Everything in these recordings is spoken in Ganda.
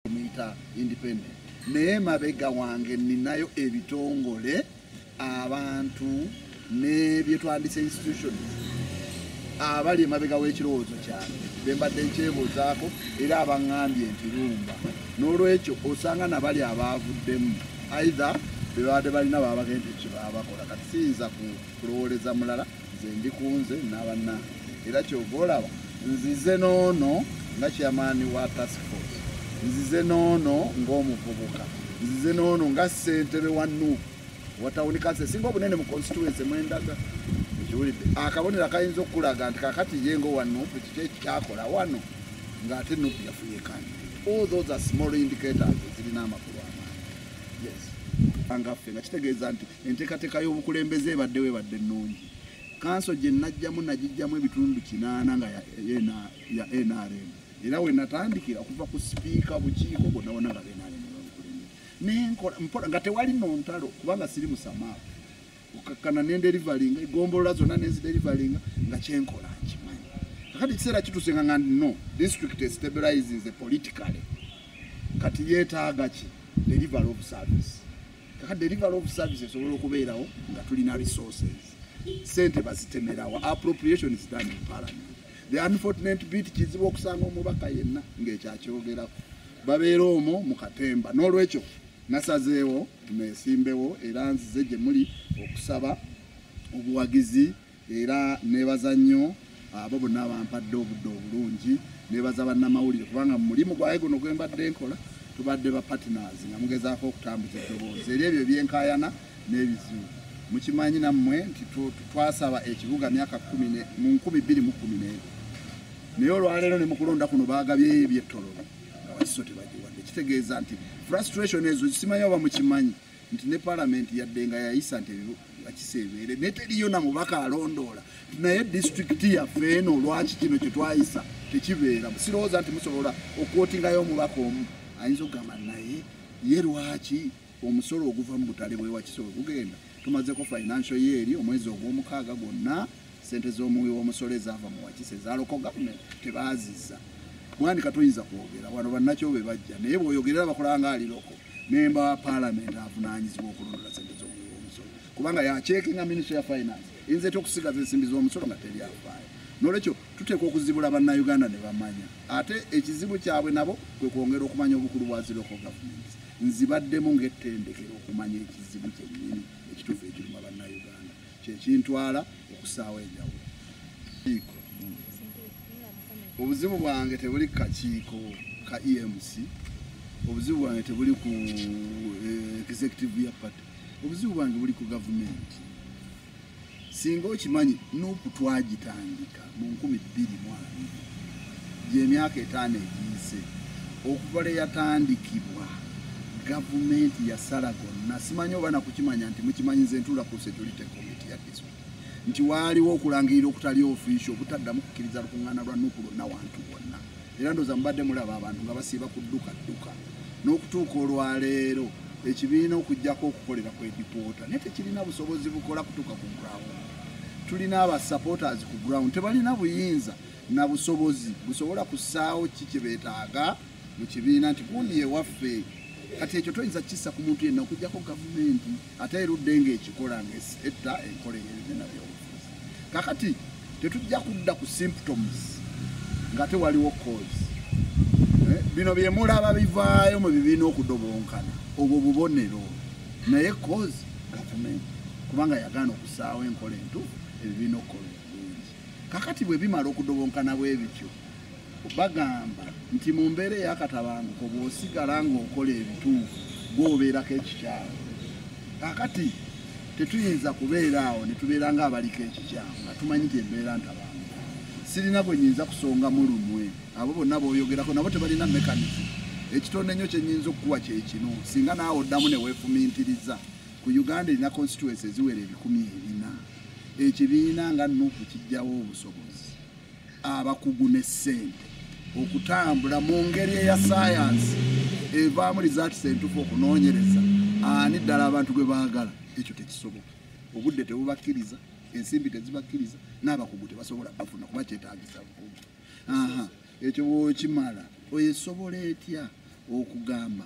muyita independent naye mabega wange ninayo ebitongole abantu nebyetwandisa institution abali emabega w'ekirowoozo kyange bembadde nkyebuuzaako era abaŋambye nti lumba n'olwekyo osanga nabali abaavuddemu aitha bebabadde balina babagenda ekibaabakola kati siyinza kulowooleza mulala nze ndi kunze nabanna era kyova olaba nzize noono nga kyamaani wa task force nzize noono ngaomuvubuka nzize noono nga ssentebe wa nup watawuni kansi esinga obunene mu constituency mwendaga ekiwulidde akabonero akayinza okukulaga nti kakati ye nga owa nup kiki ekikyakola wano ng'ate nup yafunye kandi all those are small indicators ezirina amakulu amaani yes angaffe nga kitegeeza nti enteekateeka y'obukulembeze ebaddewo ebadde nnungi kanso gye najjamu nagijjamu ebitundu kinaana nga ya nrm era we natandikira okuva ku sipiika bukiiko bonna bona nga benrm nenkola nga tewali nontalo kubanga siri musamaa okakkana nenderivalinga egombolola zonna nenziderivalinga nga kyenkola nkimanyi kakati ekiseera kituuse nga nga no district stabilizes politically kati yeetaaga ki delivery of service kaka delivery of services esobola okubeerawo nga tulina resources sente bazitemerawo appropriation is done in parliament the unfortunate bit kizibu okusanga omubaka yenna ng'ekyakyogerako babeera omwo mu katemba n'olwekyo nasazeewo nesimbewo era nzize gye muli okusaba obuwagizi era nebaza nnyo abo bonna abampadde obudde obulungi nebaza bannamawulire kubanga mu mulimu gwaye guno gwe mbadde nkola tubadde ba partners nga mugezaako okutambuza eddoboozi eri ebyo ebyenkayana n'ebizibu mukimanyi nammwe nti twasaba ekibuga myaka mu nkumi bbiri mu kumi n'ebyo naye olwaleero ne mukulonda kuno baagabyeyo ebyettololo nga wakiso tebagiwadde kitegeeza nti frustration ezo zisimanyi oba mukimanyi nti ne palamenti yadde nga yayisa nti akisa ebeere naye teriyo na mubaka alondoola nti naye disitulikiti yaffe eno lwaki kino kye twayisa tekibeera sirowooza nti musobola okwotingayo omubaka omu ayinza okugamba naye ye lwaki omusolo oguva mu butale bwewakisa ogugenda tumazeko financial ye eri omwezi ogw'omukaaga gwonna sente z'omuwi w'omusolo ezaava mu wakisa ezaloko gavumenti tebaaziza mwani katoyinza kwogera wano bannakyo be bajja naye bw'oyogerera bakulanga aliroko memba wa palamenti avunanyizibwa okulondola sente zomusolo kubanga yakyekinga ministry ya finance eyinza etya okusigaza ensimbi zomusolo nga teri afaayo nolwekyo tuteeka okuzibula bannauganda ne bamanya ate ekizibu kyabwe nabo kwe kwongera okumanya obukulu bwa ziroko gavumenti nzibaddemu ng'ettendekero okumanya ekizibu kyennyini ekituufu ekiruma bannauganda kyekintwala okusaawo enjawulo obuzibu bwange tebuli kakiiko ka emc obuzibu bwange tebuli ku eh, executive ya party obuzibu bwange buli ku gavumenti singa okimanyi nupu twagitandika mu nkumi bbiri mu abiri gy'emyaka etaano egiyise okuva lwe yatandikibwa gavumenti yasala gonna simanyi oba nakukimanya nti mukimanyiza entula ku security committee ya district nti waaliwo okulangirira okutali ofiisi obutaddamu kukkiriza lukuŋŋaana lwa nuku lwonna wantu wonna era ndoza mubadde mulaba abantu nga basiiba kudduka dduka n'okutuuka olwaleero ekibiina okujjako okukolera ku edipoota naye tekirina busobozi bukola kutuuka ku ground tulina aba supporters ku ground tebalina buyinza na busobozi busobola kusaawo ki kyebetaaga mu kibiina nti gundi ewaffe kati ekyo toyinza kisa ku muntu yenna okujjako gavumenti ate erudde ngaekikola ngaetta enkola eyebibiina byo kakati tetujja kudda ku symptoms nga te waliwo cause eh, bino byemulaba bivaayo mu bibiina okudobonkana obwo bubonero naye cause gavumenti kubanga yagaana okusaawo enkola entuufu ebibiina okukola obulungi kakati bwe bimala okudobonkana bwebityo Bagamba nti mu mbeera ey'akatabanguko bw'osigala ng'okola ebituufu gw'obeerako ekikyamu. Kakati tetuyinza kubeera awo ne tubeera ng'abaliko ekikyamu nga tumanyi nti embeera ntabanguko. Sirina gwe nyinza kusongamu lumwe abo bonna b'oyogerako nabo tebalina mekanizi. Ekitonde nnyo kye nyinza okukuwa kye kino singa naawe oddamu ne weefumiitiriza ku Uganda erina konsituwensi eziwera ebikumi ebina ekibiina nga nupu kijjawo obusobozi. abakugu ne ssente okutambula mu ngeri eya sayansi evaamu lizaatisa entufu okunoonyereza ani ddala abantu gwe baagala ekyo tekisoboka obudde tebubakkiriza ensimbi tezibakkiriza n'abakugu tebasobola bafuna kuba kyetagisa bukugu ekyo bwokimala oyo esobola etya okugamba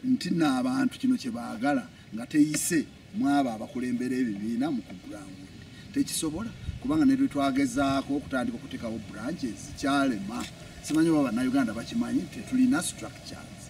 nti n'abantu kino kye baagala nga teyise mwabo abakulembera ebibiina mu kugulangu tekisobola kubanga ne lwe twagezaako okutandika okuteekawo branches kyalema simanyi oba bannayuganda bakimanyi tetulina structures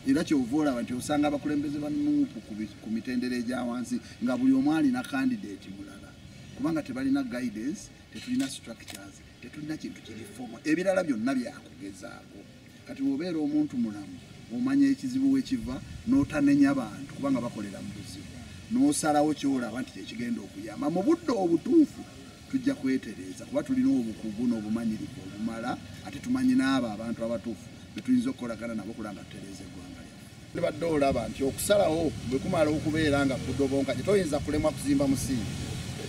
era kyova olaba nti osanga abakulembeze ba nuupu ku mitendera egya wansi nga buli omu alina kandidate mulala kubanga tebalina guidance tetulina structures tetulina kintu kiri fomo ebirala byonna byakugezaako kati wobeera omuntu mulamu omanya ekizibu wekiva notanenya bantu kubanga bakolera mu buzibu nosalawo kyolaba nti kyekigenda okuyamba mu budde obutuufu tujja kwetereeza kuba tulina obukugu n'obumanyirivu obumala ate tumanyi n'abo abantu abatuufu betuyinza okukolagana nabo kulanga tutereeza eggwanga Tubadde olaba nti okusalawo bwe kumala okubeera nga kudobonka gye toyinza kulemwa kuzimba musingi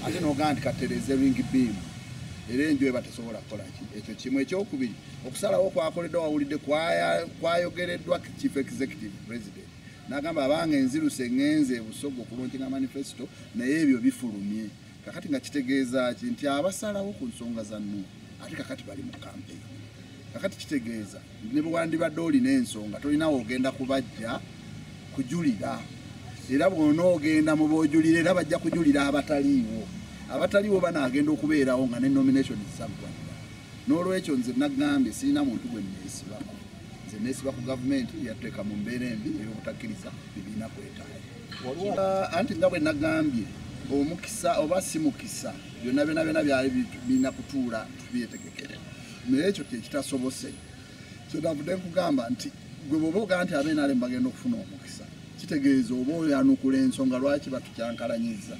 ate n'ogamba nti katereeze ringi biimu era enju eba tesobola kukola ki ekyo kimu ekyokubiri okusalawo kwakoleddwa wawulidde kwayogereddwa chief executive president n'agamba abanga enziruse eŋŋenze ebusogo okuluntinga manifesito naye ebyo bifulumye kakati nga kitegeeza ki nti abasalawo ku nsonga za nuu ate kakati bali mu kampeyini kakati kitegeeza ne bwe wandibadde olina ensonga tolina wogenda kubajja kujulira era bwona ogenda mu bojulira era bajja kujulira abataliiwo abataliiwo banaagenda okubeerawo nga ne nomination zisaggwanira n'olwekyo nze nagambye sirina muntu gwe neesibako nze neesiba ku gavumenti yatteeka mu mbeera embi ey'obutakkiriza bibiina kwetaaya uh, anti nga bwe nagambye omukisa oba si mukisa byonna byona byona byali birina kutuula tubyetegekere naye ekyo kyekitasobose kyetavudde nkugamba nti gwe bwoba ogaa nti abenale mubagenda okufuna omukisa kitegeeza oba oyanukula ensonga lwaki batukyankalanyiza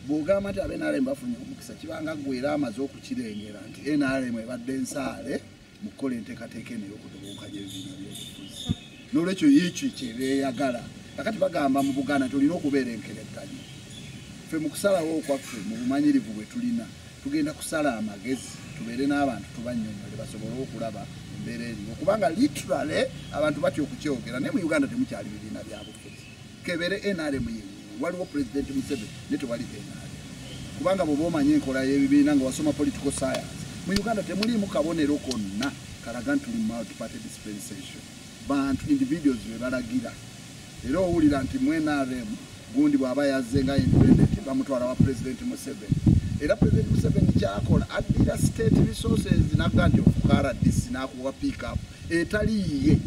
bwogamba nti abenale mubafunye omukisa kibanga gwera amaze okukirengera nti nrm ebadde ensaale mu kukola enteekateeka eno eyokudubukanya ebibiina byobufuzi nolwekyo yekyo kyebeyagala akati bagamba mu buganda tulina okubeera enkerekanyi fe mukusalawo okwaffe mu bumanyirivu bwetulina tugenda kusala amagezi tubeere n'abantu tubanyonyole basobole okulaba embeera eriwo kubanga literally abantu batya okukyogera naye mu uganda temukyali bibiina byabufuzi kebere nrm ye waliwo president museveni ne tewali nrm kubanga bwoba omanya enkola y'ebibiina nga wasoma political science mu uganda temuliimu kabonero konna kalaga nti tuli multiparty dispensation bantu individuals bebalagira era owulira nti mu nrm gundi bwaba yazze nga independent bamutwala wa president museveni era president museveni kyakola addira state resources nagga nti ofuka rdc nakuwa pickup etaliiye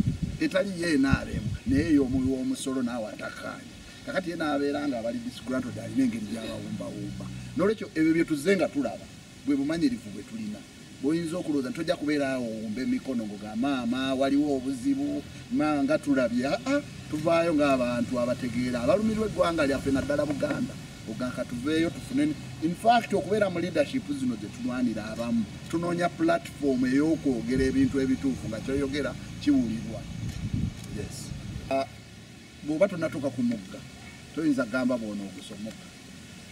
etaliiye nrm naye yomuwi womusolo naawe atakaanya kakati ye nabeera nga abali disgranto dalina engeri gyabawumbawumba nolwekyo ebyo byetuze nga tulaba bwe bumanyirivu bwe tulina bwoyinza okulowooza nti tojja kubeera awo owumba emikono ngo ga maama waliwo obuzibu maa nga tulabye aa ah, ah, tuvaayo ng'abantu abategeera abalumirwa eggwanga lyaffe naddala buganda ogaka tuveeyo tufune infact okubeera mu leadership zino gye tulwanira abamu tunoonya platform ey'okwogera ebintu ebituufu nga kyoyogera kiwulirwa yes ah, bw'oba tonatuuka ku mugga toyinza gamba bwona ogusomoka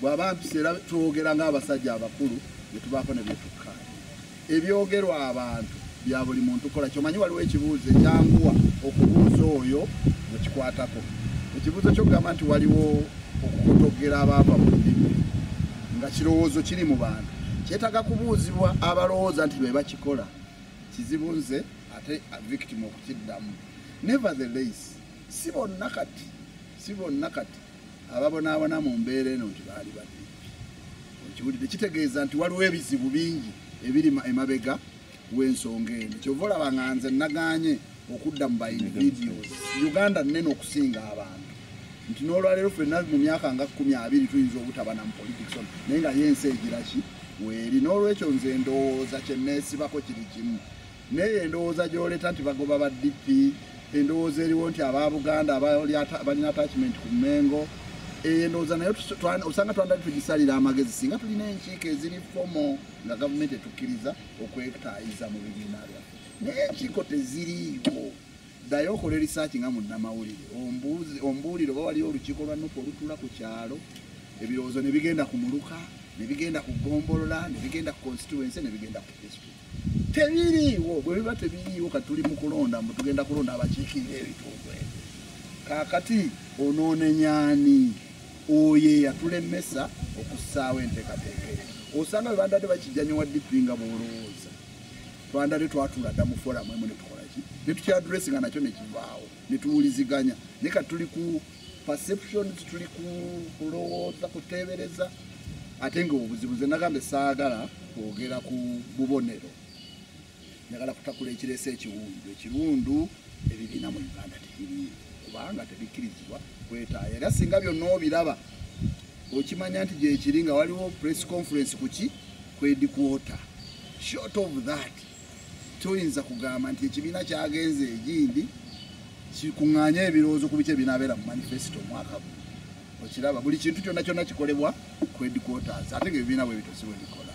bw'aba mpisa era twogera ng'abasajja abakulu bye tubaako ne byetukkaanya ebyogerwa abantu bya buli muntu kola kyomanyi waliwo ekibuuzo ekyanguwa okubuuza oyo ekikwatako ekibuuzo kyokugamba nti waliwo okukotogera abaava mu lulimi nga kirowoozo kiri mu bantu kyetaaga kubuuzibwa abalowooza nti be bakikola kizibu nze ate victim okukiddamu never the lace si bonna kati si bonna kati ababonaabona mu mbeera eno nti baali badde okiwulidde kitegeeza nti waliwo ebizibu bingi ebiri emabega w'ensonga eno kyova olaba nga nze naganye okudda mu bainvidios uganda nene okusinga abantu nti n'olwaleero fenna mu myaka nga kumi abiri tuyinza obutaba na mupolitics on naye nga yensi egiraki weeri n'olwekyo nze ndowooza kyeneesibako kiri kimu Naye endowooza gyoleta nti bagoba ba DP endowooza eriwo nti aba Buganda balina attachment ku Mengo eyo endowooza naye osanga twandali tugisalira amagezi singa tulina enkiiko eziri fomo nga gavumenti etukkiriza okwetayiza mu bibiina byaffe naye enkiiko teziriiwo ddayo okola erisaaki nga munnamawulire ombuulire oba waliyo olukiiko lwa nuku olutula ku kyalo ebirowoozo ne bigenda ku muluka ne bigenda ku gombolola ne bigenda ku constituency ne bigenda ku district tebiriiwo bwe biba tebiriiwo kati tuli mu kulonda mbu tugenda kulonda abakiikirira ebitundu ebyo kaakati onoonenyaani oyo eyatulemesa okussaawo enteekateeka eyo osanga bwe bandadde bakijjanya wa dipi nga bwolowooza twandadde twatula dda mu foramu emu ne tukolaki ne tukyaduresi nga nakyo ne kivaawo ne tuwuliziganya naye kati tuli ku perceptions tuli kulowooza kuteebereza ate nga obuzibu ze nagambe saagala kwogera ku bubonero njagala kutakula ekireese ekiwundu ekiwundu ebibiina mu uganda tebiri kubanga tebikkirizibwa kwetaayo era singa byonna obiraba okimanya nti gyekiri nga waliwo press conference kuki kwedikwota short of that toyinza kugamba nti ekibiina kyagenze egindi kikuŋŋaanye ebirowoozo ku biki ebinaabeera mu manifesito omwaka gu okiraba buli kintu kyonna kyonna kikolebwa ku ediquoters ate nga ebibiina bwe bitosibwe bikola